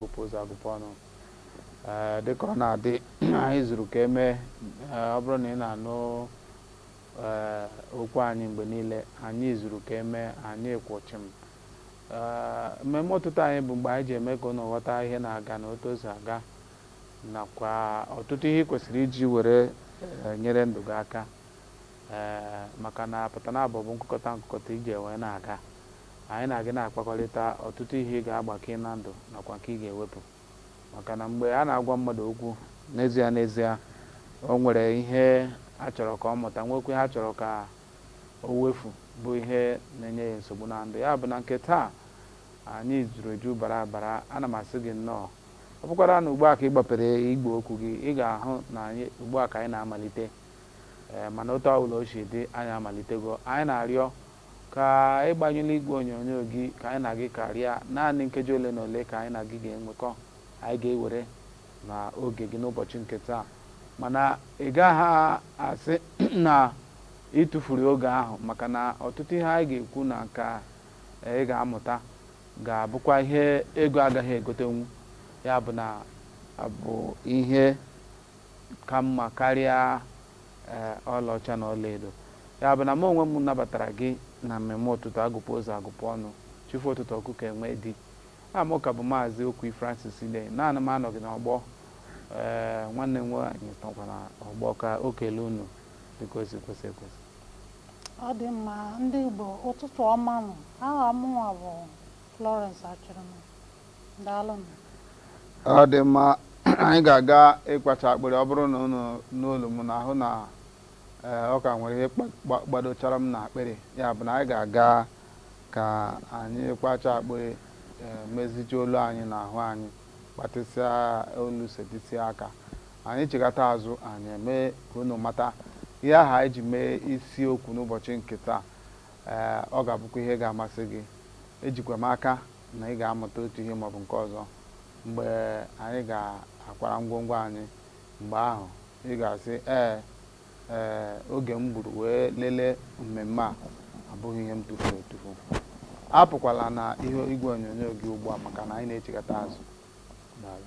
gụpụ ụzọ agụpụ ọnụ ee dịka ọ na-adị anyị zuru ka emee ee ọ bụrụ na ị na-anụ ee okwu anyị mgbe niile anyị zuru ka emee anyị kwụ chịm ee mmemme ụtụtụ anyị bụ mgbe anyị ji eme ka unu ghọta ihe na-aga na otu o si aga nakwa ọtụtụ ihe i kwesịrị iji were ee, nyere ndụ gị aka ee maka na pụta na abụ bụ nkụkọta nkụkọta iji wee na-aga Anyị na gị na-akpakọrịta, ọtụtụ ihe ị ga-agbake na ndụ nakwa nke ị ga-ewepụ. Maka na mgbe a na-agwa mmadụ okwu, n'ezie n'ezie, o nwere ihe a chọrọ ka ọ mụta, nweekwa ihe a chọrọ ka o wefu, bụ ihe na-enye ya nsogbu na ndụ. Ya bụ, na nke taa, anyị juru eju bara abara. Ana m asị gị nnọọ. Ọ bụkwara na ugbu a ka ị gbapere igwe okwu gị, ị ga-ahụ na anyị, ugbu a ka anyị na-amalite. Ee, mana otu ọ bụla o si dị, anyị amalitego. Anyị na-arịọ Ka ị gbanyelụ igwe onyonyo gị, ka anyị na gị karịa. Naanị nkeji ole na ole ka anyị na gị ga-enwekọ. Anyị ga-ewere na oge gị n'ụbọchị nke taa. Mana ị gaghị asị na ị tufuru oge ahụ maka na ọtụtụ ihe anyị ga-ekwu na nke ị ga-amụta ga-abụkwa ihe ego agaghị egotenwu. Ya bụ na ọ bụ ihe ka mma karịa ee, ọlaọcha na ọlaedo. Ya bụ na mụ onwe m nabatara gị na mmemme ụtụtụ agụpụ ụzọ agụpụ ọnụ, chi fo ụtụtụ ọkụkọ enwee di. Aha m ka bụ Maazị Okwi Francis Idei, naanị m anọghị n'ọgbọ. Ee, nwanne m nwaanyị nọkwa na ọgbọ ka o kelee unu dịka o si kwesị ekwesị. Ọ dị mma ndị Igbo ụtụtụ ọma nụ. Aha mụnwa bụ Florence Achịrịma. ọ dị mma anyị ga-aga ịkwacha akpịrị ọ bụrụ na unu nụ olu m unu ahụ na eh, ọ ka nwere ihe gbadochara m na akpịrị ya bụ na anyị ga-aga ka anyị kwacha akpịrị eh, meziju olu anyị na ahụ anyị gbatịsịa olu setịsịa aka anyị chigata azụ anyị eme ka unu mata ihe ahụ anyị ji mee isiokwu n'ụbọchị nke taa eh, ọ ga-abụkwa ihe ga-amasị gị ejikwa m aka na ị ga-amụta otu ihe maọbụ nke ọzọ mgbe anyị ga-akwara ngwongwo anyị. Mgbe ahụ, ị ga-asị, Ee, ee, oge m gburu wee lelee mmemme a abụghị ihe m tufuru etufu. Apụkwala na ihu igwe onyonyo gị ugbu a maka na anyị na-echigata azụ. Daalụ.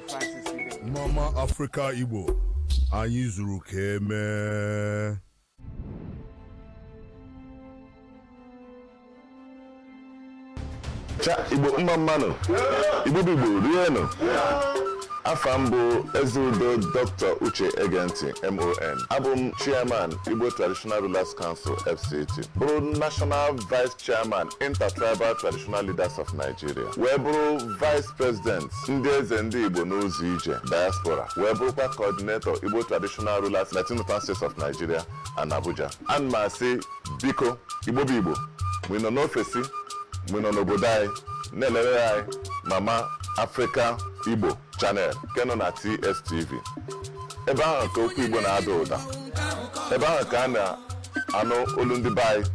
Mma mma Africa Igbo anyị zuru ka emee cha igbo mma mma nụ igbo bụ igbo rienụ afa m bụ eze udo dr uche egenti mon abụ m chairman igbo traditional rulers council fct bụrụ national vice chairman Intertribal Traditional Leaders of Nigeria wee bụrụ vice president ndị eze ndị Igbo n'ụzọ ije diaspora wee bụrụkwa coordinator Igbo Traditional Rulers na Northern States of Nigeria and Abuja ana m asị biko Igbo bụ Igbo mgbe ị nọ n'ofesi mgbe ị nọ n'obodo anyị na-elere anyị Mama Africa Igbo Channel nke nọ na TSTV ebe ahụ ka okwu Igbo na-ada ụda ebe ahụ ka a na-anụ olu ndị be anyị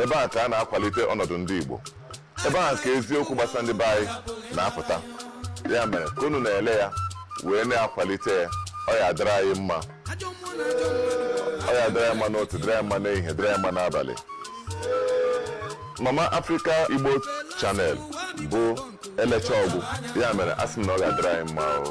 ebe ahụ ka a na-akwalite ọnọdụ ndị Igbo ebe ahụ ka eziokwu gbasara ndị be anyị na-apụta ya mere ka unu na-ele ya wee na-akwalite ya ọ ya-adịrị anyị mma ọ ya-adịrị anyị mma n'ụtụtụ dịrị anyị mma n'ehihie dịrị anyị mma n'abalị Mama Africa Igbo Channel bụ elechaa ọ gwụ ya mere asị m na ọ ga-adịrị anyị mma o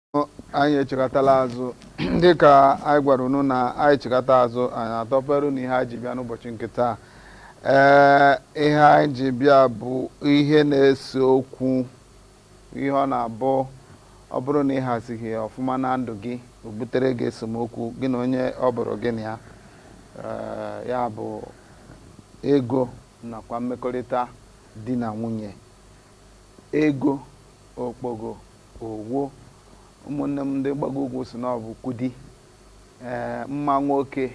anyị echighatala azụ dịka anyị gwara unu na anyị chighata azụ anyị atọpere unu ihe anyị ji bịa n'ụbọchị nke taa ee ihe anyị ji bịa bụ ihe na-ese okwu ihe ọ na-abụ ọ bụrụ na ị hazighị ya ọfụma na ndụ gị o butere gị esemokwu gị na onye ọ bụrụ gị na ya ee ya bụ ego nakwa mmekọrịta di na nwunye ego okpogo Owo, ụmụnne m ndị mgbago ugwu sị na ọ bụ Kudi, ee, mma nwoke,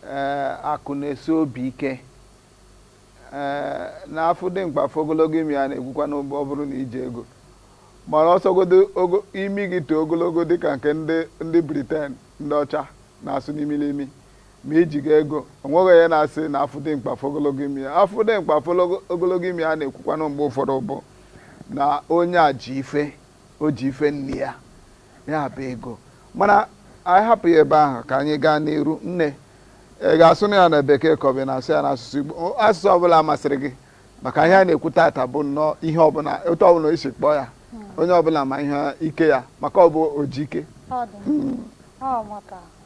ee, akụ na-esi obi ike, ee, na afụ dimkpa afụ ogologo imi ya a na-ekwukwanụ ọ bụrụ na i ji ego mara ọ sọgodu imi gị too ogologo dịka nke ndị ndị Briten ndị ọcha na-asụ n'imi n'imi Ma i jighị ego, o nweghị onye na-asị na afụ dimkpa afụ ogologo imi ya. Afụ dimkpa afụ ogologo imi ya a na-ekwukwanụ mgbe ụfọdụ bụ na onye a ji ife, o ji ife nne ya, ya bụ ego. Mana anyị hapụ ya ebe ahụ ka anyị gaa n'iru. Nne, ị ga-asụnụ ya na Bekee ka ọ bụ ị na-asụ ya n'asụsụ Igbo? Asụsụ ọbụla masịrị gị. Maka ihe anyị na-ekwu taata bụ nnọọ ihe ọbụla, otu ọbụla i si kpọọ ya. Onye ọbụla ma ihe ike ya maka ọ bụ o ji ike. Ọ dị. Ọ maka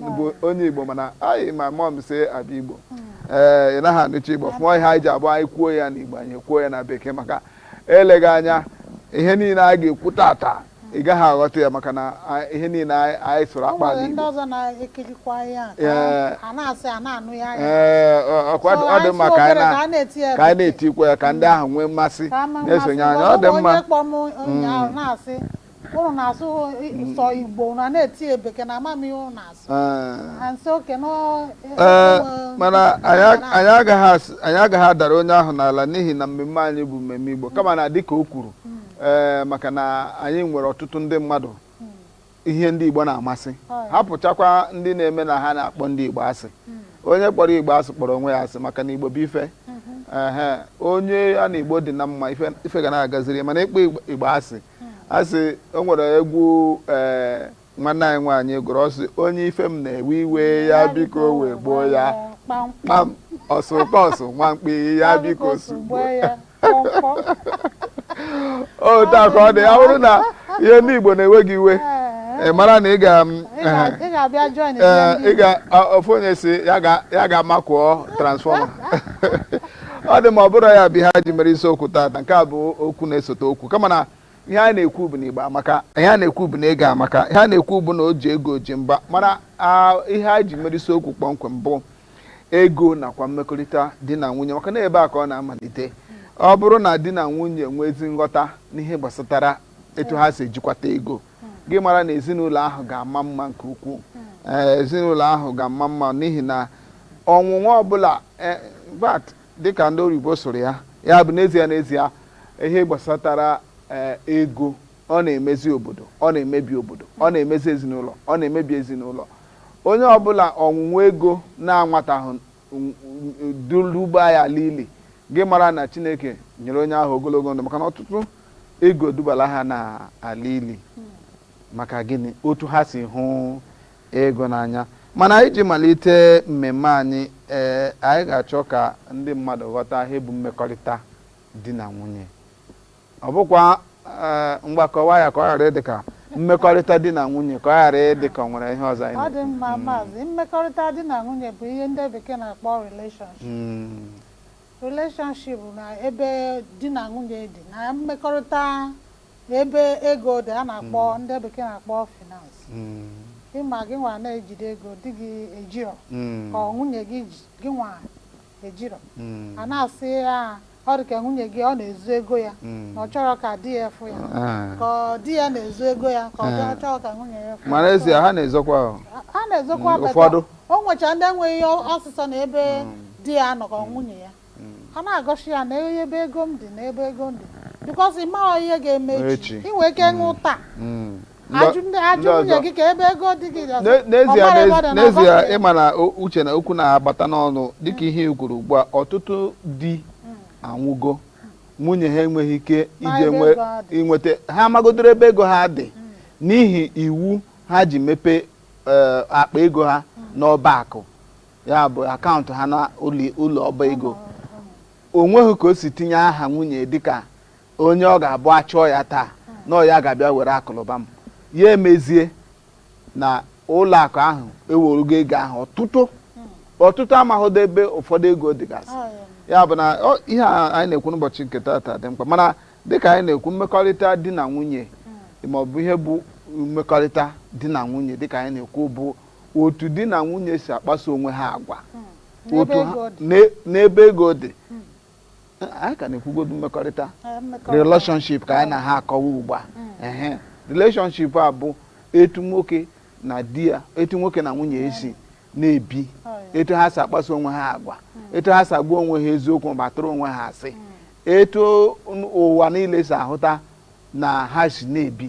bụ onye Igbo mana anyị ma mumsy abụghị Igbo ee eh, ị naghị anụcha Igbo fụọ ihe anyị ji abụ anyị kwuo ya n'Igbo anyị kwuo ya na bekee maka eleghị anya ihe niile anyị ga-ekwu taata ị gaghị aghọta ya maka na ihe niile anyị sụrụ akpa n'Igbo ọ dị mma ka anyị na-etikwa ya ka ndị ahụ nwee mmasị na-esonye anyị ọ dị mma ụnụ na-asụ sọ Igbo na na-etie bekee na amamihe ụnụ na-asụ mana anyị agaghị adara onye ahụ n'ala n'ihi na mmemme anyị bụ mmemme Igbo kama na dịka o kwuru ee maka na anyị nwere ọtụtụ ndị mmadụ ihe ndị Igbo na-amasị hapụchakwa ndị na-eme na ha na-akpọ ndị Igbo asị onye kpọrọ Igbo asị kpọrọ onwe ya asị maka na Igbo bụ ife onye ya na Igbo dị na mma ife ga na-agaziri ya mana ịkpọ Igbo asị a sị o nwere egwu ee eh, nwanne anyị nwaanyị gụrụ ọ sị onye ife m na-ewe iwe ya biko wegbuo ya kpam ọsụkọsụ nwa mkpi ya biko sụgbuo ya otu a ka ọ dị ya bụrụ na ihe ndị Igbo na-ewe gị iwe ị mara na ị ga ofu onye sị ya gaa makụọ transformer ọ dị mma ọ bụrụ ya bụ ihe anyị ji mere isiokwu taata nke a bụ okwu na-esote okwu kama na ihe anyị na-ekwu bụ na Igbo amaka ihe a na-ekwu bụ na ego amaka ihe a na-ekwu bụ na o ji ego ji mba mana ah, ihe anyị ji mere isiokwu kpọmkwem bụ ego nakwa mmekọrịta di na nwunye maka na ebe a ka ọ na-amalite ọ bụrụ na di na nwunye nwee ezi nghọta n'ihe gbasatara etu ha si ejikwata ego gị mara na ezinụlọ ahụ ga-ama mma nke ukwuu ee ezinụlọ ahụ ga-ama mma n'ihi na ọnwụnwa ọbụla e, in fact, dịka ndị oyibo sụrụ ya ya bụ n'ezie n'ezie ihe gbasatara ee, ego ọ na-emezi obodo ọ na-emebi obodo ọ na-emezi ezinụlọ ọ na-emebi ezinụlọ onye ọbụla ọnwụnwa ego na-anwatahụ duba ya ala ili gị mara na chineke nyere onye ahụ ogologo ndụ maka na ọtụtụ ego edubala ha na ala ili maka gịnị otu ha si hụ ego n'anya mana anyị ji malite mmemme anyị ee anyị ga-achọ ka ndị mmadụ ghọta ihe bụ mmekọrịta di na nwunye Ọ bụkwa eh, ngwa kọwaa ya ka ọ ghara ịdị ka mmekọrịta di na nwunye ka ọ ghara ịdị ka ọ nwere ihe ọzọ anyị ọ dị na-ekwu. mma maazị mmekọrịta di na nwunye bụ ihe ndị bekee na-akpọ relationship Mm, relationship bụ na ebe di na nwunye dị na mmekọrịta na ebe ego dị a na-akpọ ndị bekee na-akpọ finance mm, ịma gị nwa na-ejide ego di gị ejiro mm, ka ọ nwunye gị ji- gị nwa ejiro Mm. a na-asị ya ọ dị ka nwunye gị ọ na-ezo ego ya Mm. na ọ chọrọ ka di ya fụ ya Ah. ka ọ- di ya na-ezo ego ya ka ọ bịa Ah. chọọ ka nwunye ya fụ ya. mana ezie ha na-ezokwa ahụ a na-ezokwa Mm, beta. ụfọdụ. o nwecha ndị enweghị ihe ozizo na ebe di ya nọ ka ọ nwunye ya a na-egosi ya na ebe ego m dị na ebe ego m dị bikọs ị maghị ihe ga-eme Echi. echi ị nwee ike nwụọ taa Mm. n'ezie ịma na uche na okwu na-agbata n'ọnụ dịka ihe e kwuru ugbu a ọtụtụ di anwụgo nwunye ha enweghị ike iji nweta ha amagodoro ebe ego ha dị n'ihi iwu ha ji mepee eh, akpa ego ha n'ọba akụ ya bụ akaụntụ ha na ụlọ ọba ego onweghị ka o si tinye aha nwunye dịka onye ọ ga-abụ a chọọ ya taa na ọ ya ga-abịa were akụnụba m ya emezie na ụlọ akụ ahụ ewerugo ego ahụ ọtụtụ ọtụtụ amaghịdo ebe ụfọdụ ego dịgasị Ọ ya. ya bụ na ọ- ihe a anyị na-ekwu n'ụbọchị nke tata dị mkpa mana dịka anyị na-ekwu mmekọrịta di na nwunye ma ọ bụ ihe bụ mmekọrịta di na nwunye dịka anyị na-ekwu bụ otu di na nwunye si akpaso onwe ha agwa N'ebe otu ha- ego dị. n'e- n'ebe ego dị anyị ka na-ekwugodu mmekọrịta relationship ka anyị na ha akọwa ugbu a mm. relationship a bụ etu nwoke na di ya etu nwoke na nwunye esi na-ebi oh, etu ha si akpaso onwe ha agwa mm. etu ha si agwa onwe ha eziokwu ma tụọrọ onwe ha asị mm. etu ụwa niile si ahụta na ha si na-ebi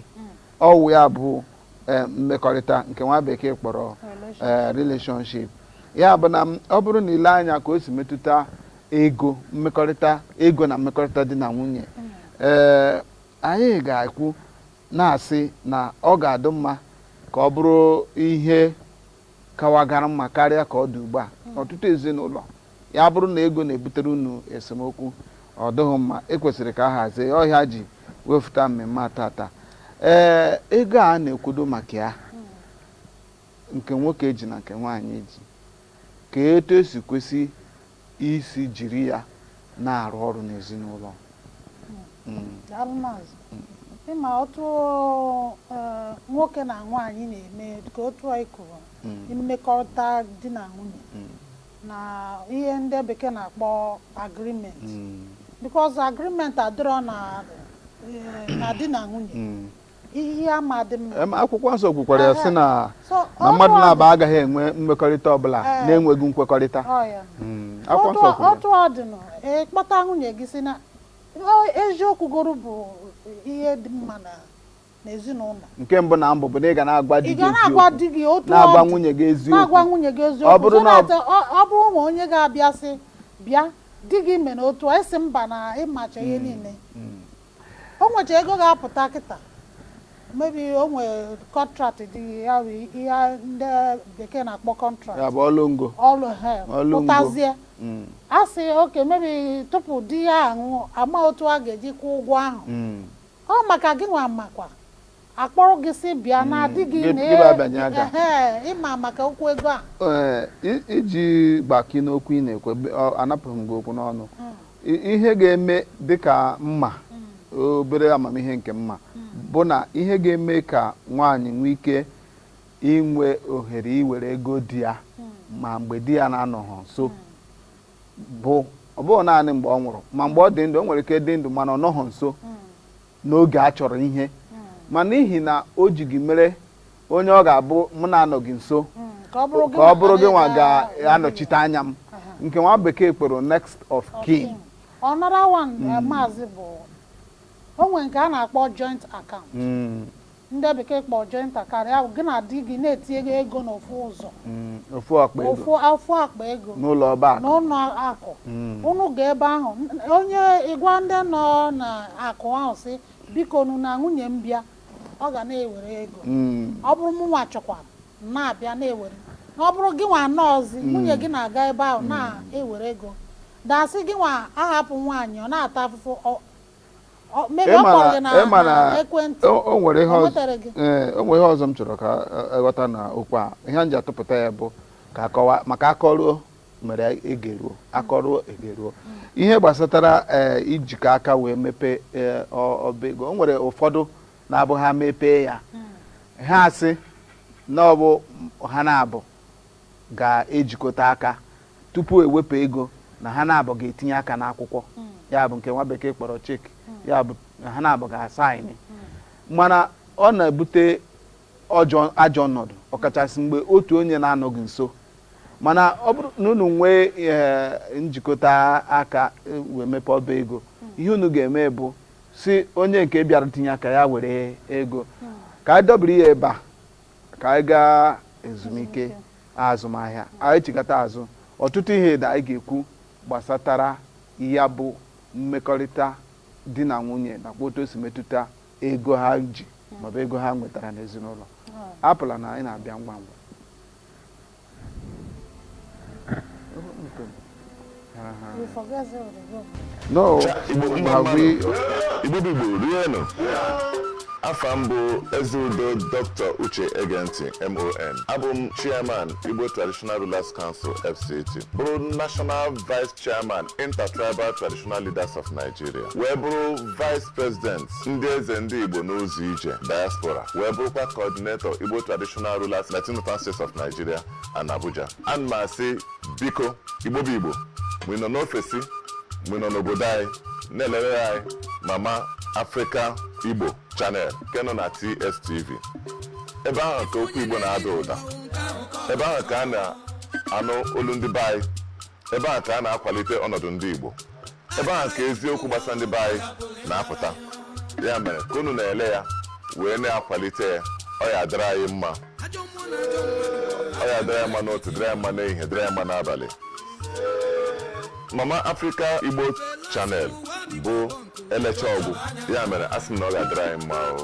ọ wụ ya bụ eh, mmekọrịta nke nwa bekee kpọrọ eh, relationship ya bụ na m- ọ bụrụ na i lee anya ka o si metụta ego mmekọrịta ego na mmekọrịta di na nwunye ee anyị ga-ekwu na-asị na ọ ga-adị mma ka ọ bụrụ ihe kawagara mma karịa ka ọ dị ugbu a ọtụtụ ezinụlọ Ya bụrụ na ego na-ebutere unu esemokwu, ọ dịghị mma, e kwesịrị ka a hazie ya. Ọ ihe e ji wefụta mmemme a tata. Ee, ego a na-ekwudo maka ya, nke nwoke ji na nke nwaanyị ji, kee etu e si kwesị isi jiri ya na-arụ ọrụ n'ezinụlọ. Daalụ Maazị. Ịma otu eh, nwoke na nwaanyị na-eme ka otu anyị kwuru mmekọrịta di na nwunye na ihe ndị bekee na-akpọ agreement mm. because agreement adịrọ na eh, na di na nwunye mm. ihe ama adị mma akwụkwọ nsọ kwukwara ya sị na na mmadụ naabọ agaghị enwe mmekọrịta ọbụla eh. na-enweghị nkwekọrịta mm. otu ọ dị na ị kpọta nwunye gị sị na eziokwu goro bụ ihe dị mma na n'ezinụlọ nke mbụ na mbụ bụ na ị ga na-agwa di gị eziokwu na-agwa nwunye gị eziokwu so that ọ bụrụ o nwee onye ga-abịa sị bịa di gị mere otu a ị sị mba na ị macha ihe niile o nwecha ego ga-apụta kịta maybe o nwee contract dị ya bụ ihe ndị bekee na-akpọ ya contract bụ ọlụ ngo ọlụ he Ọlụ ngo. pụtazie Mm, a sị okay maybe tupu di ya anwụọ a ma otu a ga-eji kwụọ ụgwọ ahụ mm, ọ maka gị nwa makwa a kpọrọ gị sị bịa na hmm, adịghị ama maka okwu ego a iji gbakwunye n'okwu ị na-ekwu anapụghị m gị okwu n'ọnụ hmm. ihe ga-eme dịka mma hmm. obere amamihe nke mma bụ na ihe ga-eme ka nwaanyị nwee ike inwe ohere iwere ego di ya ma mgbe di ya na-anọghị nso bụ ọ bụghị naanị mgbe ọ nwụrụ ma mgbe ọ dị ndụ o nwere ike dị ndụ mana ọ nọghị nso n'oge a chọrọ ihe ma n'ihi na o ji gị mere onye ọ ga-abụ mụ na-anọghị nso ka ọ bụrụ gị nwa ga-anọchite anya m nke nwa bekee kpọrọ next of kin ọ nara one eh, maazị bụ o nwere nke a na-akpọ joint account Ndị bekee kpọrọ joint account, ya bụ gị na di gị na-eti ego ego n'ofu ụzọ, Mm, ofu akpa ego ofu ofu akpa ego n'ụlọ ọba akụ n'ụlọ akụ. Mm. Unu ga ebe ahụ, n- onye ị gwa ndị nọ n'akụ ahụ sị bikonu na nwunye m bịa, ọ ga na-ewere ego. Mm, Ọ bụrụ mụ nwa chọkwaa m na-abịa na-ewere. Na ọ bụrụ gị nwa anọọzi, nwunye gị na-aga ebe ahụ na-ewere ego. Than sị gị nwa ahapụ nwaanyị ọ na-ata afụfụ ọ- Ọ- maybe ọ kpọrọ gị na- ịma na na ekwentị o o nwere ihe Ọ ọzọ nwetara gị? ee, o nwere ihe ọzọ m chọrọ ka e- eghọta na okwu a ihe m ji atụpụta ya bụ ka a kọwaa maka akọruo mere egeruo akọruo egeruo ihe gbasatara ee, ijikọ aka wee mepee ee, ọ- ọba ego o nwere ụfọdụ na-abụ ha mepee ya ha asị na ọ bụ ha naabọ ga-ejikọta aka tupu e wepụ ego na ha naabọ ga-etinye aka n'akwụkwọ ya bụ nke nwa bekee kpọrọ cheque ya bụ na ha naabọ ga-asaịnị mana ọ na-ebute ọjọọ ajọ ọnọdụ ọkachasị mgbe otu onye na-anọghị nso mana ọ bụrụ na unu nwee ee, njikọta aka e, wee mepee ọba ego ihe unu ga-eme bụ sị onye nke bịara tinye aka ya were ego ka a dọbiri ya ebe a ka anyị gaa ezumike azụmahịa anyị chigata azụ ọtụtụ ihe dị anyị ga-ekwu gbasatara ya bụ mmekọrịta di na nwunye nakwa otu o si metụta ego ha ji ma ọ bụ ego ha nwetara n'ezinụlọ apụla na anyị na-abịa ngwa ngwa You forget the room. No, have we? Igbo bụ Igbo rienu. Afa m bụ Ezeudo Dr. Uche Egenti MON. Abụ m Chairman Igbo Traditional Rulers Council FCT. Bụrụ National Vice Chairman Intertribal Traditional Leaders of Nigeria wee bụrụ Vice President ndị eze ndị Igbo n'ụzọ ije diaspora wee bụrụkwa Coordinator Igbo Traditional Rulers na Northern States of Nigeria and Abuja ana m asị biko Igbo bụ Igbo mgbe ị nọ n'ofesi mgbe ị nọ n'obodo anyị na-elere anyị Mama Africa Igbo Channel nke nọ na TSTV ebe ahụ ka okwu Igbo na-ada ụda ebe ahụ ka a na-anụ olu ndị be anyị ebe ahụ ka a na-akwalite ọnọdụ ndị Igbo ebe ahụ ka eziokwu gbasara ndị be anyị na-apụta ya mere ka unu na-ele ya wee na-akwalite ya ọ ya-adịrị anyị mma ọ ya-adịrị anyị mma n'ụtụtụ dịrị anyị mma n'ehihie dịrị anyị mma n'abalị Mama Africa Igbo Channel bụ e lecha ọ gwụ ya mere a sị m na ọ ga-adịrị anyị mma o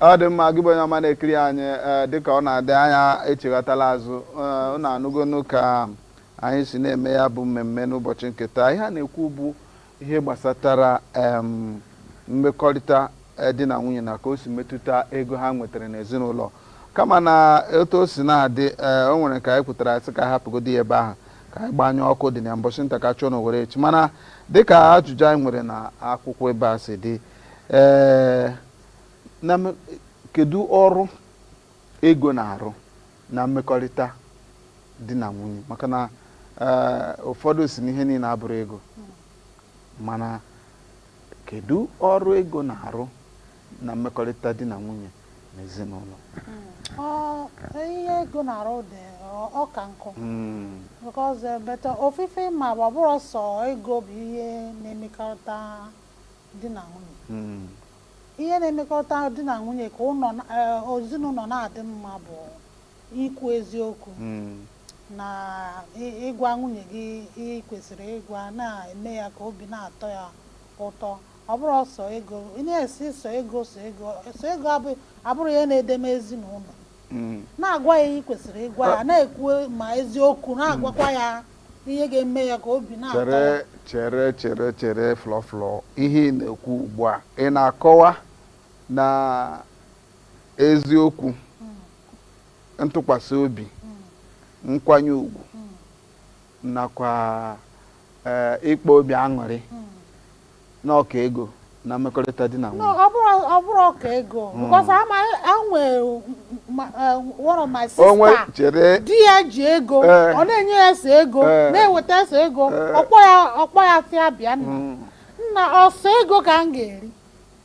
Ọ dị mma, gị bụ onye ọma na-ekiri anyị ee dịka ọ na-adị anyị echighatala azụ ee unu anụgonu ka anyị si na-eme ya bụ mmemme n'ụbọchị nke taa ihe a na-ekwu bụ ihe gbasatara em mmekọrịta eh, di na nwunye na ka o si metụta ego ha nwetara n'ezinụlọ kama na otu o si na-adị ee o nwere ka anyị kwutara sị ka anyị hapụgodi ya ebe ahụ ka anyị gbanyụọ ọkụ dị na ya mbọchị nta ka a chụọ na owere nchi mana dịka ajụjụ anyị nwere na akwụkwọ ebe a si dị ee na m- kedu ọrụ ego na-arụ na mmekọrịta di na nwunye maka na ee, ụfọdụ sị na ihe niile abụrọ ego mana kedu ọrụ ego na-arụ na mmekọrịta di na nwunye na ezinụlọ Ọ- ihe ego na-arụ dị ọ- ọ ka nkụ Mm, because eh, but ofu ife m ma ọ bụrọ sọ ego bụ ihe na-emekọrịta di na nwunye hmm. ihe na-emekọta di na nwunye ka eh, ezinụlọ na-adị mma bụ ikwu eziokwu hmm. na ịgwa nwunye gị ihe i kwesịrị ịgwa ya na-eme ya ka obi na-atọ ya ụtọ ọ bụrọ sọ ego ị na-asị sọ ego sọ ego sọ ego abụrọ ihe na-edeme ezinụlọ hmm. na-agwa ya ihe i kwesịrị ịgwa ya ah. na-ekwu ma eziokwu na-agwakwa ya ihe ga-eme ya ka obi na-atọ ya. chere chere chere chere Flo Flo ihe ị na-ekwu ugbu a ị na-akọwa na eziokwu ntụkwasị obi nkwanye ugwu nakwa eh, ịkpa obi aṅụrị na ọ ka ego na mmekọrịta di na nwunye ọ bụrụ ọ bụrụ ọ ka ego hmm. because ama anwe eh, one of my sister di ya ji ego eh. ọ na-enye ya sọ ego eh. na-eweta sọ ego ọ kpọ ya ọ kpọ ya sị ya bịa nna hmm. ọ sọ ego ka m ga-eri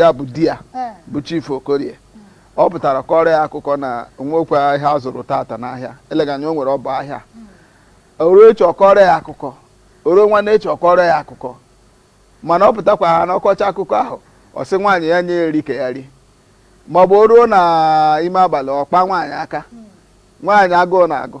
ya bụ di ya eh. bụ Chief Okorie ọ pụtara ọ kọọrọ ya akụkọ na o nwekwa ihe a zụrụ tata n'ahịa eleghị anya o nwere ọ bụ ahịa hmm. o ruo echi ọ kọọrọ ya akụkọ o ruo nwanne echi ọ kọọrọ ya akụkọ mana ọ pụtakwaha na ọ kọchaa akụkọ ahụ ọ sị nwaanyị ya nye ya nri ka ya rie ma ọ bụ o ruo n'ime abalị ọ kpaa nwaanyị aka hmm. nwaanyị agụụ na-agụ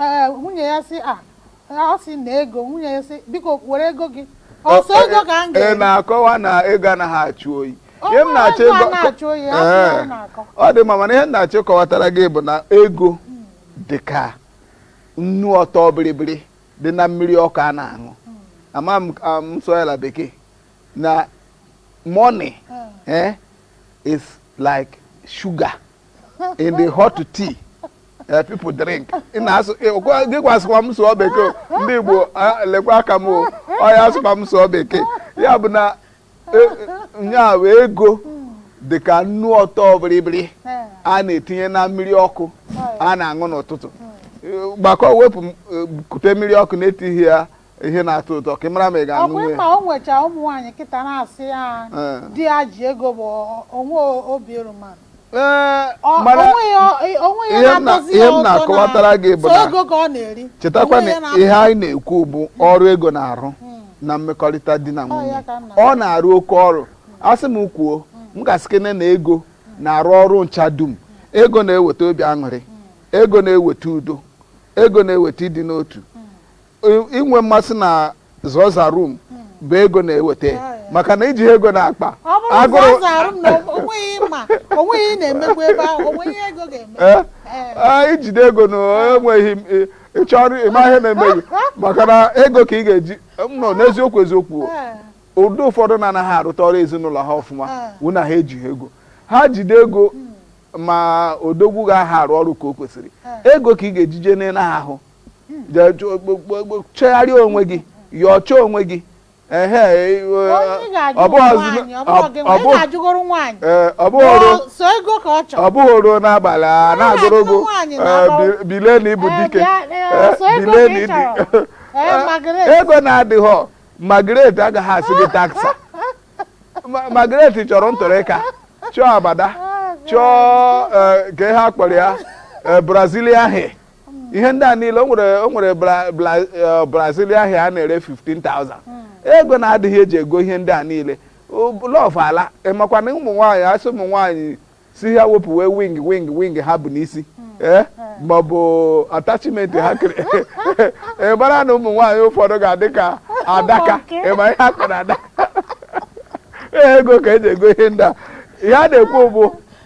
Ee, nwunye ya sị a ọ sị na ego nwunye ya sị biko were ego gị ọ sọ ego ka m ị ga-eri na-akọwa na ego anaghị achụ oyi Ọ ihe m bụrụ na-achọ ego a ịgwa- na-achụ oyi, a sị na Ee, ọ na-akọ. ọ dị mma mana ihe m na-achọ ịkọwatara gị bụ na ego dị ka nnu ọtọ biribiri dị na mmiri ọkụ a na-aṅụ ama m ka m sụọ ya na bekee na money eh, is like sugar in the hot tea uh, people drink ị na-asụ gịkwa sịkwa m sụọ bekee ndị Igbo lekwa aka m o ọ ya sịkwa m sụọ bekee ya bụ na e, e, nya ego dị ka nnu ọtọ biribiri a na-etinye na mmiri ọkụ a na-aṅụ n'ụtụtụ gbakọ wepụ e, kute mmiri ọkụ na-etighị ya ihe na-atọ ụtọ ka ị mara ma ị ga-aṅụ ọkwa nwe ị ma o nwecha ụmụ nwaanyị kịta na-asị ya Eh. di ya ji ego bụ onwe obi erumanụ Ee, Ọ- mana o nwee ya onwe ya ihe m na- na-atọzi ihe ya m ụtọ na- na-akọwatara gị bụ so na- ego ka ọ na-eri chetakwa Onwe ya na ihe anyị na-ekwu bụ ọrụ ego na-arụ na mmekọrịta di na nwunye ya ka m na-agwa. ọ na-arụ oke ọrụ a sị m kwuo m ga-asịkene na ego na-arụ ọrụ ncha dum ego na-eweta obi aṅụrị ego na-eweta udo ego na-eweta ịdị n'otu inwe mmasị na za oza room bụ ego na-eweta maka na i jighị ego n'akpa i jide ego na enweghị ịchọrọ ịma ihe na-eme gị maka na ego ka ị ga-eji nọ n'eziokwu eziokwu ndị ụfọdụ na-anaghị arụta ọrụ ezinụlọ ha ọfụma wụ na ha ejighị ego ha jide ego ma odogwu ga-aha arụ ọrụ ka o kwesịrị ego ka ị ga-eji je n'ịnaghị ahụ chegharịa onwe gị yọcha onwe gị ọ bụghị o ruo n'abalị a na-agụrụ gị bilie na ị bụ dike bilie na ị dị ego na-adịghọ Margaret agaghị asị gị thank sir Margaret chọrọ ntụrịka chọọ abada chọọ kee ihe a kpọrọ ya Brazilian hair ihe ndị a niile o nwere o nwere Bra- Bra- eh, brazil hair a na-ere 15,000 ego na-adịghị eji ego ihe ndị a niile love ala ịmakwa na ụmụ nwaanyị asị ụmụ nwaanyị si ha wepụwe wig wig wig ha bu n'isi ee ma ọ bụ attachment ha kere ị mara na ụmụ nwaanyị ụfọdụ ga-adị ka adaka Ụmụ nke. ị ma ihe a kpọrọ adaka ego ka eji ego ihe ndị a ihe a na-ekwu bụ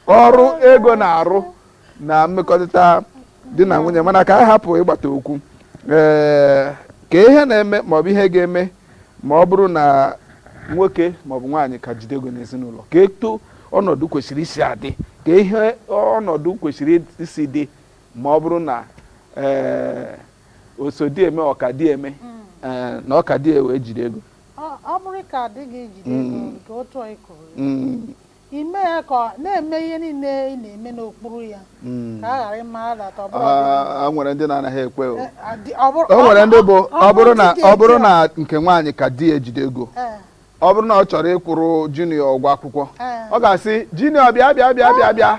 ọrụ ego na-arụ na mmekọrịta di na nwunye mana ka a hapụ ịgbata okwu ee kee ihe na-eme maọbụ ihe ga-eme ma ọ bụrụ na nwoke maọbụ nwaanyị ka jide ego n'ezinụlọ kee etu ọnọdụ kwesịrị isi adị kee ihe ọnọdụ kwesịrị isi dị ma ọ bụrụ na ee oso di eme ọka di eme ee, na ọka di ewe jide ego ọ ọ bụrụ ka di ya ejide ego nke otu anyị kwuru Mm, Ime ya ka ọ na-eme ihe niile ị na-eme n'okpuru ya ka a ghara ịmara data ọ bụrụ ọdịnihu. Ah, nwere ndị na-anaghị ekwe o Eh, adị- ọ bụrụ- o nwere ndị bụ ọ bụrụ na ndị dị ọ bụrụ etu na nke nwaanyị ka di ya ejide ego a, eh, ọ bụrụ na ọ chọrọ ịkwụrụ junior ụgwọ akwụkwọ Eh. ọ ga-asị junior bịa bịa bịa bịa bịa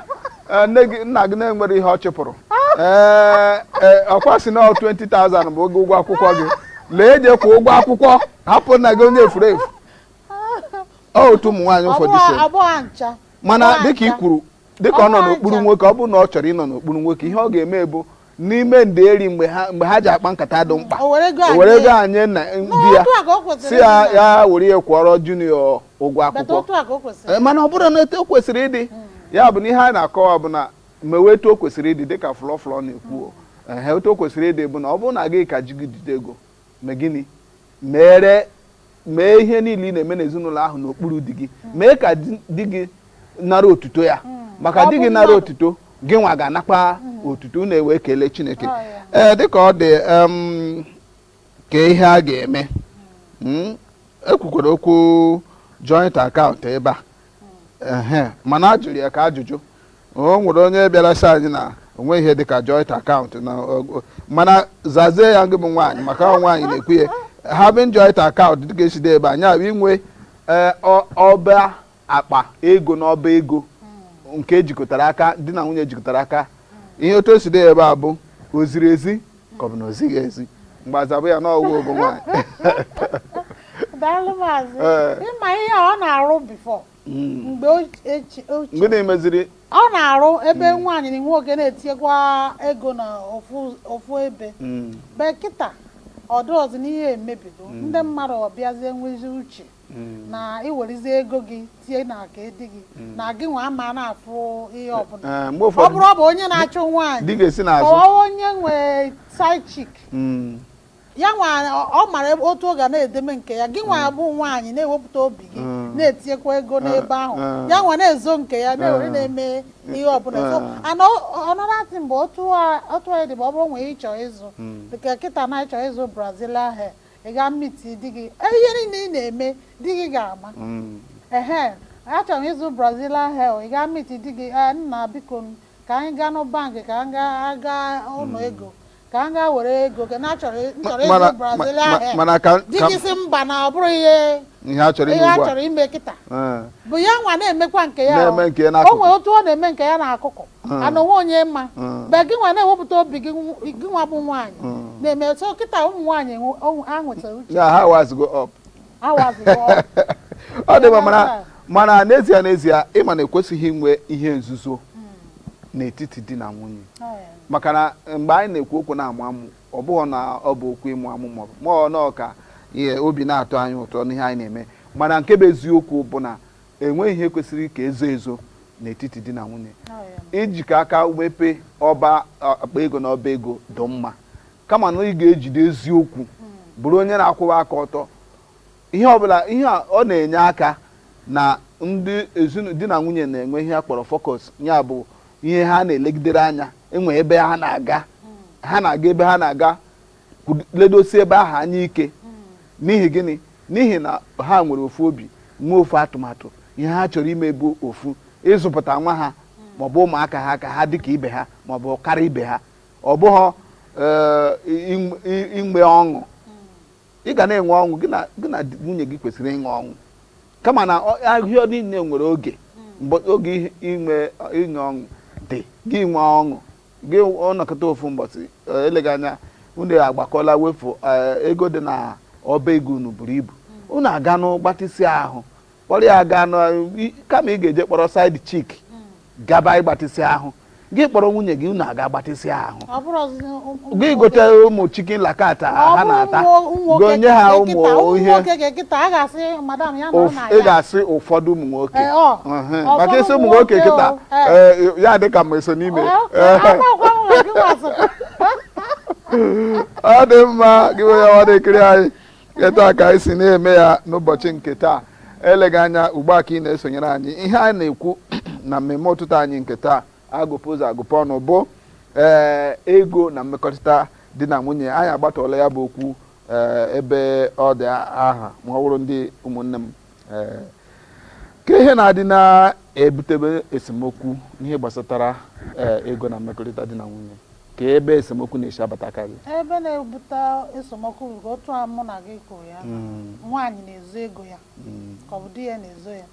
Eh, nne gị nna gị na-enwerọ ihe ọ chụpụrụ ee ee, ọkwa sị na 20,000 bụ ego ụgwọ akwụkwọ gị lee je kwụọ ụgwọ akwụkwọ hapụ nna gị onye efuru efu ọ otu ụmụ nwaanyị ụfọdụ si eme. abụọ ncha mana Ọwa dịka i ncha. kwuru dịka ọ nọ Ọwa n'okpuru ncha. nwoke ọ bụrụ na ọ chọrọ ịnọ n'okpuru nwoke ihe ọ ga-eme bụ n'ime ndeeri mgbe ha mgbe ha ji akpa nkata dị mkpa O were ego o were anyị. ego ahụ nye di ya otu a ka o kwesịrị sị ya ịdị na- ya were ya kwụọrọ junior ụgwọ Bata akwụkwọ otu a ka o kwesịrị. Eh, mana ọ bụrụ na etu o kwesịrị ịdị ya bụ na ihe a na-akọwa bụ na mewe etu o kwesịrị ịdị dịka flọflọ na-ekwu o. Ehe, etu o kwesịrị ịdị bụ na ọ bụrụ na gị ka di gị jide ego mee gịnị meere mee ihe niile ị na-eme n'ezinụlọ ahụ n'okpuru di gị hmm. mee ka di gị nara otuto ya hmm. maka di gị nara otuto gịnwa ga-anakwa hmm. otuto unu ewee kelee Chineke oh, ee eh, dịka ọ dị ka ihe a ga-eme ekwukwara okwu joint account ebe a mana a jụrụ ya ka ajụjụ o nwere onye bịara sị anyị na o nwe ihe dịka joint account na mana zazie ya gị bụ nwaanyị maka ọ nwaanyị na-ekwu ya having joint account dịka esi dee ya ebe a nya bụ inwe e, ọba akpa ego na ọba ego nke ejikọtara aka di na nwunye jikọtara aka ihe otu esi dee ya ebe a bụ o ziri ezi ka ọ bụ na o zighị ezi mgbe azabụ ya n'ogogo nwaanyị daalụ maazị Ee. ị ma ihe ọ na-arụ before mgbe ochie mgbe na-emeziri ọ na-arụ ebe nwaanyị na nwoke na-etinyekwa ego na ofu ofu ebe Mm. but kịta ọ dịrọzi na ihe emebigo ndị mmadụ abịazie nwezi uche mm. na i werezi ego gị tinye n'aka di gị mm. na gị nwa ama na-afụ ihe eh, ọbụla eh, ọ bụrụ ọ bụ onye na-achụ nwaanyị kọwa onye nwe side chick mm. ya nwa ọ mara otu ọ ga na-edeme nke ya gị nwa bụ nwaanyị na-ewepụta obi gị na-etinyekwa ego eh, n'ebe ahụ ya nwa na-ezo nke ya na-ewere na-eme ihe ọbụla so and ọnọdụ atị mgbe otu anyị dị bụ ọ bụrụ nwee ihe ị chọ ịzụ dịka kịta na ị chọ ịzụ brazilian hair ị ga meet di gị e, ihe niile ị na-eme di gị ga-ama mm. ehe achọrọ m ịzụ brazilian hair ị ga meet di gị e, nna biko ka anyị gaa na bank ka anyị ga ụlọ mm. ego ka m gaa were ego gị na achọrọ ịzụ brazilian hair di gị sị mba na ọ bụrọ ihe ihe a chọrọ ime kịta but ya nwa na-emekwa nke ya o nwere otu ọ na-eme nke ya n'akụkụ Mm. and o nweghị onye ma Mm. but gị nwa na-ewepụta obi gị nw- gị nwa bụ nwaanyị Mm. na-eme so kịta ụmụ nwaanyị enwe- ọnwụ- ha nwetara uche ya ha awisego up wise up ọ dị mma mana Yeah. mana n'ezie n'ezie ị ma na ekwesịghị inwe ihe nzuzo n'etiti di na nwunye maka na mgbe anyị na-ekwu okwu na-amụ amụ ọ bụghị na ọ bụ okwu ịmụ amụ maọbụ ma ọ nọọ ka ihe obi na-atọ anyị ụtọ n'ihe anyị na-eme mana nke bụ eziokwu bụ na enweghị ihe kwesịrị ka e zoo ezo n'etiti di na nwunye ijikọ aka mepee ọba akpa ego na ọba ego dị mma kama na ị ga-ejide eziokwu bụrụ onye na-akwụwa aka ọtọ ihe ọbụla ihe a ọ na-enye aka na ndị ezinụlọ di na nwunye na-enwe ihe a kpọrọ focus ya bụ ihe ha na-elegidere anya e nwee ebe ha na-aga ha na-aga ebe ha na-aga ledosi ebe ahụ anya ike n'ihi gịnị n'ihi na ha nwere ofu obi nwee ofu atụmatụ ihe ha chọrọ ime bụ ofu ịzụpụta nwa ha maọbụ ụmụaka ha ka ha dịka ibe ha maọbụ karịa ibe ha ọ bụghị eh, inwe ọṅụ ị ga na-enwe ọṅụ gị na nwunye gị kwesịrị ịṅụ ọṅụ kama na ihe niile nwere oge mgbe oge inwe ịṅụ ọṅụ dị gị nwee ọṅụ gị anọkata ofu mbọsị eh, eleghị anya unu agbakọla wee fụ eh, ego dị na ọba ego unu buru ibu unu aga nụ gbatịsị ahụ kpọrọ ya aga nụ i- kama ị ga-eje kpọrọ side chick gaba ịgbatịsị ahụ gị kpọrọ nwunye gị unu aga gbatịsị ahụ ọ bụrụ ọzụzụ ụmụ gị gote ụmụ chicken la carte a ha na-ata gonye ha ụmụ ihe nwoke gị kịta a ga-asị madam ya nọ Ụf- na ị ya ga-asị ụfọdụ ụmụ nwoke Ee, ọ. Ehe. Ụfọdụ maka isi ụmụ nwoke nwoke, kịta ọ. ee ya dị ka m eso n'ime ọ dị mma gị onye ọma na-ekiri anyị etu a ka anyị si na-eme ya n'ụbọchị nke taa eleghị anya ugbu a ka ị na-esonyere anyị ihe anyị na-ekwu na mmemme ụtụtụ anyị nke taa agụpe ụzọ agụpe ọnụ bụ ee ego na mmekọrịta di na nwunye anyị agbatọla ya bụ okwu ee ebe ọ dị aha ma ọ bụrụ ndị ụmụnne m kee ihe na-adị na-ebutebe esemokwu n'ihe gbasatara ego na mmekọrịta di na nwunye kee ebe esemokwu na-esi abatakarị ebe na-ebute esemokwu bụ otu a mụ na gị kwuru ya hmm. nwaanyị na-ezo ego ya hmm. ka ọ bụ di ya na-ezo ya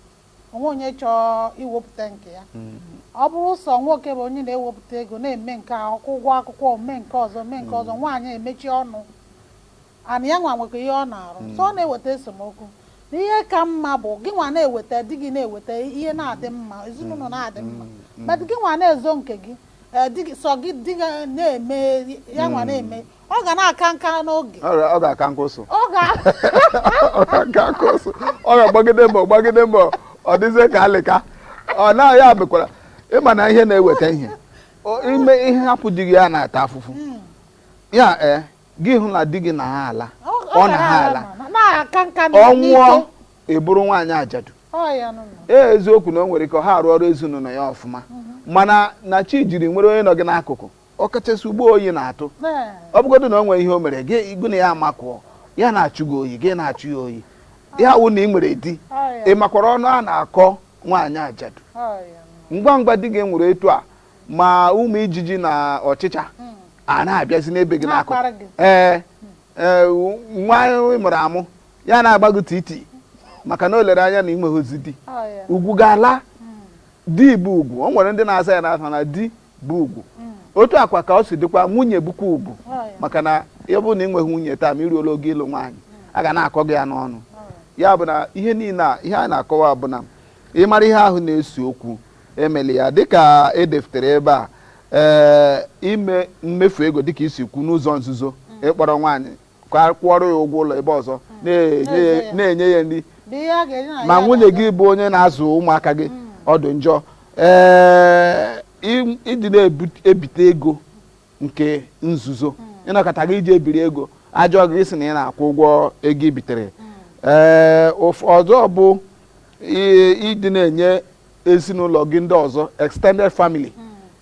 o nweghị onye chọọ iwepụta nke ya hmm. ọ bụrụ sọ nwoke bụ onye na-ewepụta ego na-eme nke a kwụọ ụgwọ akwụkwọ mee nke a mee nke ọzọ nwaanyị emechie ọnụ and ya nwa nwekwa ihe ọ na-arụ so ọ na-eweta esemokwu na ihe ka mma bụ gị nwa na-eweta di gị na-eweta ihe na-adị mma ezinụlọ na-adị mma but gị nwa na-ezo nke gị eh, di gị- sọ gị di gị na-eme ya nwa na-eme ọ ga na-aka nka n'oge Ọ ga- ọ ga-aka nka ụsụ ọ ga ọ ga-aka nka ụsụ ọ ga-agbagide mbọ gbagide mbọ ọ dịzie ka alịka ọ na ya bụkwara ịma na ihe na-eweta ihe O- ime ihe hapụ di gị ya na-ata afụfụ ya ee gị hụ na di gị na ha ala ọ na ha ala ọ nwụọ ị bụrụ nwaanyị ajadu ee eziokwu na o nwere ike ha arụ ọrụ ezinụlọ ya ọfụma mhm. mana na chi jiri i nwere onye nọ gị n'akụkụ ọ kachasị ugbu a oyi na-atụ ọ bụgodo na o nwere ihe o mere gị gị na ya amakụọ ya na-achụ gị oyi gị na-achụ ya oyi ya wụ na ị nwere di ị makwara ọnụ a na-akọ nwaanyị ajadu ngwa ngwa di gị nwere etu a ma ụmụ ijiji na ọchịcha a na-abịazi na-ebe gị n'akụkụ Na-akpara gị. ee ee, nwa ị mụrụ amụ ya na-agba gị titi maka na o lere anya na i nweghịzi di Ọ ya. ugwu ga-ala di bụ ugwu o nwere ndị na-aza ya n'afa na di bụ ugwu otu a kwa ka o si dịkwa nwunye bụkwa ugwu Ọ ya. maka na ya bụrụ na ị nweghị nwunye taa ma i ruola oge ịlụ nwaanyị a ga na-akọ gị ya n'ọnụ ya bụ na ihe niile a ihe a na-akọwa bụ na ịmara ihe ahụ na-ese okwu emeli ya dịka edefutere ebe a ee ime mmefu ego dịka i si kwuo n'ụzọ nzuzo ịkpọrọ nwaanyị kwụọrọ ya ụgwọ ụlọ ebe ọzọ na-enye ya- na-enye ya nri Dị ihe a ga-enye na ma ya nwunye ga-aga. gị bụ onye na-azụ ụmụaka gị ọ dị njọ ee ị- ịdị na-ebite ego nke nzuzo ị nọkata gị i jee biri ego a jụọ gị ị sị na ị na-akwụ ụgwọ ego i bitere ee ụf- ọzọ bụ i- ịdị na-enye ezinụlọ gị ndị ọzọ extended family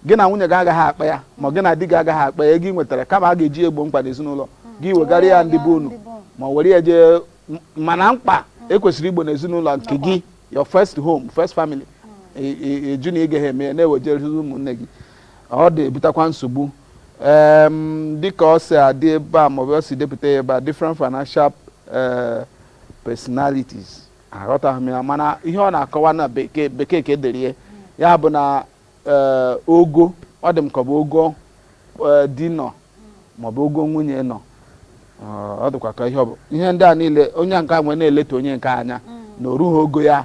gị na nwunye gị agaghị akpa ya ma gị na di gị agaghị akpa ya ego ị nwetara kama a ga-eji egbo mkpa n'ezinụlọ gị ị wegara ya ndị be unu ma were ya jee m- mana mkpa e kwesịrị igbo n'ezinụlọ nke gị your first home first family E- e- ị jụ na ị gaghị eme ya na-ewejere ụmụnne gị ọ na-ebutakwa nsogbu Em, dịka o si adị ebe a maọbụ o si depụta ya ebe a different financial eh, personalities aghọtaghị m ya mana ihe ọ na-akọwa na bekee bekee ka e dere ya ya bụ na ee, ogo ọ dị m ka ọ bụ ogo ee, di nọ maọbụ ogo nwunye nọ Ọ- ọ dịkwa ka ihe ọ bụ ihe ndị a niile onye nke a ewere na-eleda onye nke a anya na o rughị ogo ya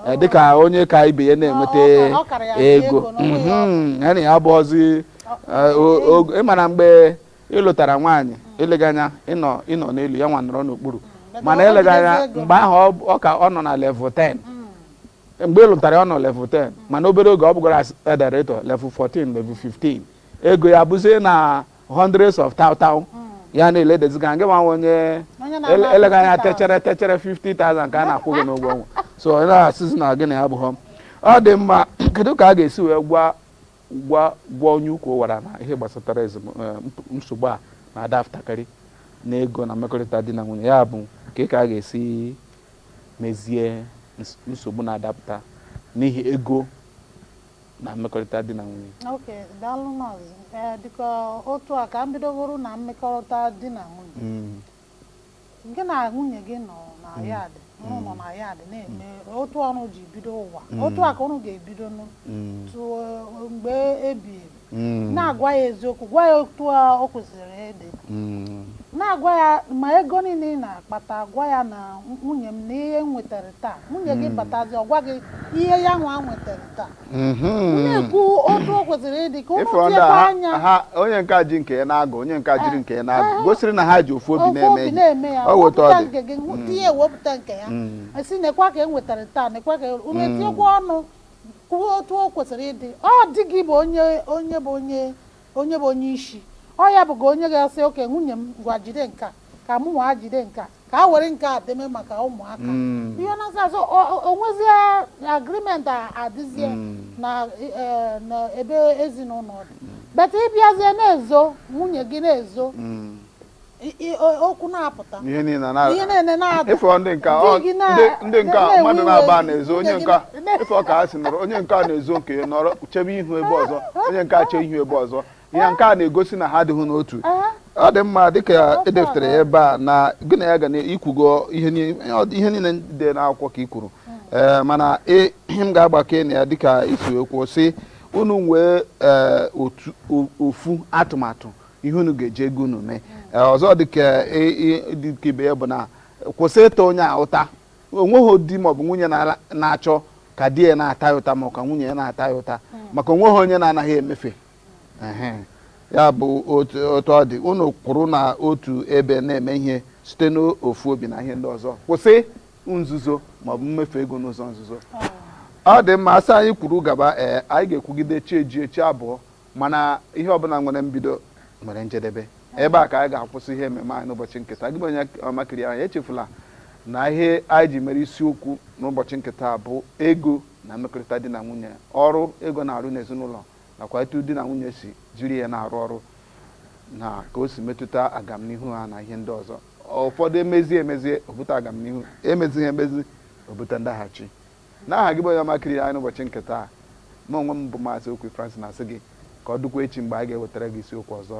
Ee, dịka onye ka ibe ya na-enweta Ọ- ọ- ọ kara ya ego ego na ọ bụghị Mhm. ya na ya abụghọzi ee, o- ogo- ị mara mgbe ị lụtara nwaanyị eleghị anya ị nọ ị nọ n'elu ya nwa nọrọ n'okpuru mm, mana eleghị anya mgbe ahụ ọ ka ọ nọ na level 10 mm. mgbe ị lụtara ya ọ nọ level 10 mm. mana obere oge ọ bụgoro a director level 14 level 15 ego ya bụzie na hundreds of thou thou ya na-eledazi gị gị nwa onye eleghị anya teacher teacher 50,000 ka a na-akwụ gị n'ụgwọ ọnwa so ọ na-asịzi na gị na ya abụghọ ọ dị mma kedu ka a ga-esi wee gwa Gwa Gwa onye ukwu wara na ihe gbasatara ezem eh, nsogbu a na-adapụtakarị n'ego na mmekọrịta di na nwunye, ya bụ kee ka a ga-esi mezie nsogbu na-adapụta n'ihi ego na mmekọrịta di na nwunye. Ok, daalụ maazị. Ee, eh, dịka otu a ka m bidogoro na mmekọrịta di na nwunye. Mm. gị na nwunye gị nọ na mm. yad ụnụ mm. nọ na yad na-eme mm. otu a ụnụ ji bido ụwa otu a ka ụnụ ga-ebido mgbe ebi ebi na-agwa ya eziokwu gwa ya otu o kwesịrị ịdị na-agwa ya ma ego niile ị na-akpata gwa ya na nwunye m nee ihe m nwetara taa nwunye gị batazi ọ gwa gị ihe ya nwa nwetara taa mhm. na-ekwu otu o kwesịrị ịdị ka ụnụ tiekwa anya onye nke ji nke ya na-agụ onye nke jiri nke ya na-agụ gosiri na ha ji ofu obi na-eme ya ọ weta ọ dị mm. tinye ewepụta nke ya mm. a sị nekwa ka e nwetara taa nekwa ka ụnụ mm. etinyekwa ọnụ kwuo otu o kwesịrị ịdị ọ dị gị bụ onye onye bụ onye onye bụ onye isi ọ ya bụga onye ga-asị ok nwunye m ngwa jide nka ka mụ nwa jide nka ka a were nke a deme maka ụmụaka mm. ihe na-asọ ụsọ o nwezie agreement adịzie mm. na e, ebe ezinụlọ dị mm. beta ị bịazie na-ezo nwunye gị na-ezo okwu na-apụta ihe niile na-ada ị fụ ndị nka ndị nka mmadụ na-aba na-ezo onye nka ị fụ ka ha si nọrọ onye nka na-ezo nke nọrọ chebe ihu ebe ọzọ onye nka chee ihu ebe ọzọ ya nke a na-egosi na ha adịghị n'otu ọ dị mma dịka edepụtara ya ebe a na gị na ya ga na i kwugo ihe niile dị n'akwụkwọ ka ị kwuru eh, mana ihe m ga-agbakwunye ya dịka i si ekwu sị unu nwee eh, ofu atụmatụ ihe unu ga-eji ego unu mee eh, ọzọ dịka ibe ya bụ na kwụsị ịta onye a ụta onweghị di maọbụ nwunye na-achọ ka di ya na-ata ya ụta ma ọ ka nwunye ya na-ata ya ụta hmm. maka onweghị onye na-anaghị emefe ya bụ otu otu ọ dị unu kwụrụ n'otu ebe na-eme ihe site n'ofu obi na ihe ndị ọzọ kwụsị nzuzo maọbụ mmefu ego n'ụzọ nzuzo ọ dị mma a sị anyị kwuru gaba ee anyị ga-ekwugide chi ejie chi abọọ mana ihe ọbụla nwere mbido nwere njedebe ebe a ka anyị ga-akwụsị ihe ememe anyị n'ụbọchị nke taa gị bụ onye ọma kiriri anyị echefula na ihe anyị ji mere isiokwu n'ụbọchị nke taa bụ ego na mmekọrịta di na nwunye ọrụ ego na-arụ n'ezinụlọ nakwa etu di na nwunye si jiri ya na-arụ ọrụ na ka o si metụta agamnihu ha na ihe ndị ọzọ. Ụfọdụ emezie emezie, o bute agamnihu, emezighị emezi, o bute ndaghachi. N'aha gị bụ onye ọma kiriri anyị n'ụbọchị nke taa, mụ onwe m bụ Maazị Okwi Francis na-asị gị ka ọ dịkwa echi mgbe anyị ga-ewetara gị isiokwu ọzọ.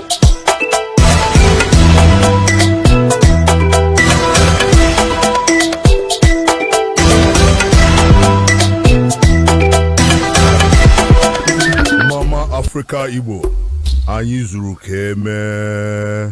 Africa Igbo anyị zuru ka emee